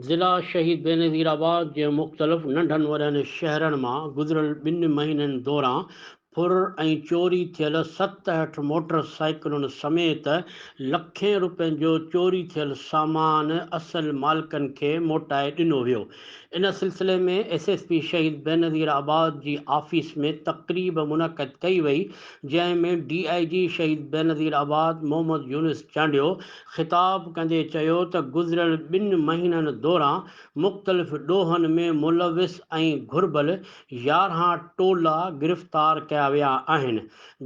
ضلع شهيد بينظير آباد جي مختلف ننڍن وڏن شهرن مان گذريل ٻن مهينن دوران ڦر ۽ چوري ٿيل ست هٺ موٽر سائيڪلن سميت لکين روپين جو چوري ٿيل سامان اصل مالڪن کي موٽائي ڏنو ويو ان سلسلي ۾ S S P Shaheed Benazirabad جي آفيس ۾ تقريب منعقد ڪئي وئي جنهن ۾ ڊي آء جي شهيد بينظير آباد محمد يونس چانڊيو خطاب ڪندي چيو ته گذريل ٻن مهينن دوران مختلف ڏوهن ۾ ملوث ۽ گهربل يارهان ٽولا گرفتار ڪيا ويا آهن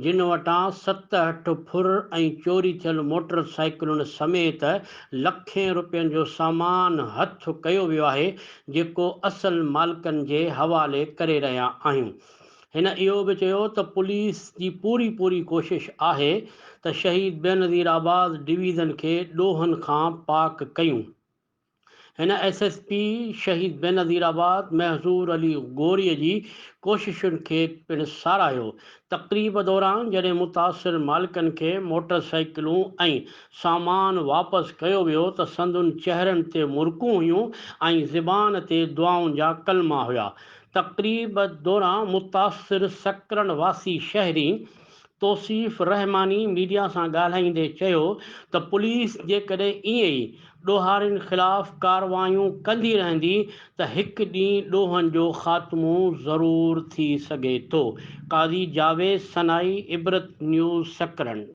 جن وٽان ستهٺ ڦر ۽ چوري ٿيل موٽر سائيڪلن سميت لکين روپين جو سامان هٿ ڪيو ويو آهي جيڪو اصل مالڪن جي حوالي ڪري رهيا آهيون. هن اهو به چيو ته پوليس جي پوري پوري ڪوشش آهي ته شهيد بينظير آباد ڊويزن کي ڏوهن کان پاڪ ڪيون. هن S S P Shaheed Benazir آباد محظور علي غوري جي ڪوششن کي پڻ ساراهيو. تقريب دوران جڏهن متاثر مالڪن کي موٽر سائيڪلون ۽ سامان واپس ڪيو ويو ته سندن چهرن تي مرڪون هيون ۽ زبان تي دعائن جا ڪلما هيا تقريب دوران متاثر سڪرنڊ واسي شهري توصيف رحماني ميڊيا سان ڳالهائيندي چيو ته پوليس جيڪڏهن ائين ئي ڏوهارين خلاف ڪارروايون ڪندي رهندي ته هڪ ڏينهن ڏوهن جو خاتمو ضرور ٿي سگهي ٿو. قاضي جاويد سنائي عبرت نيوز سڪرنڊ.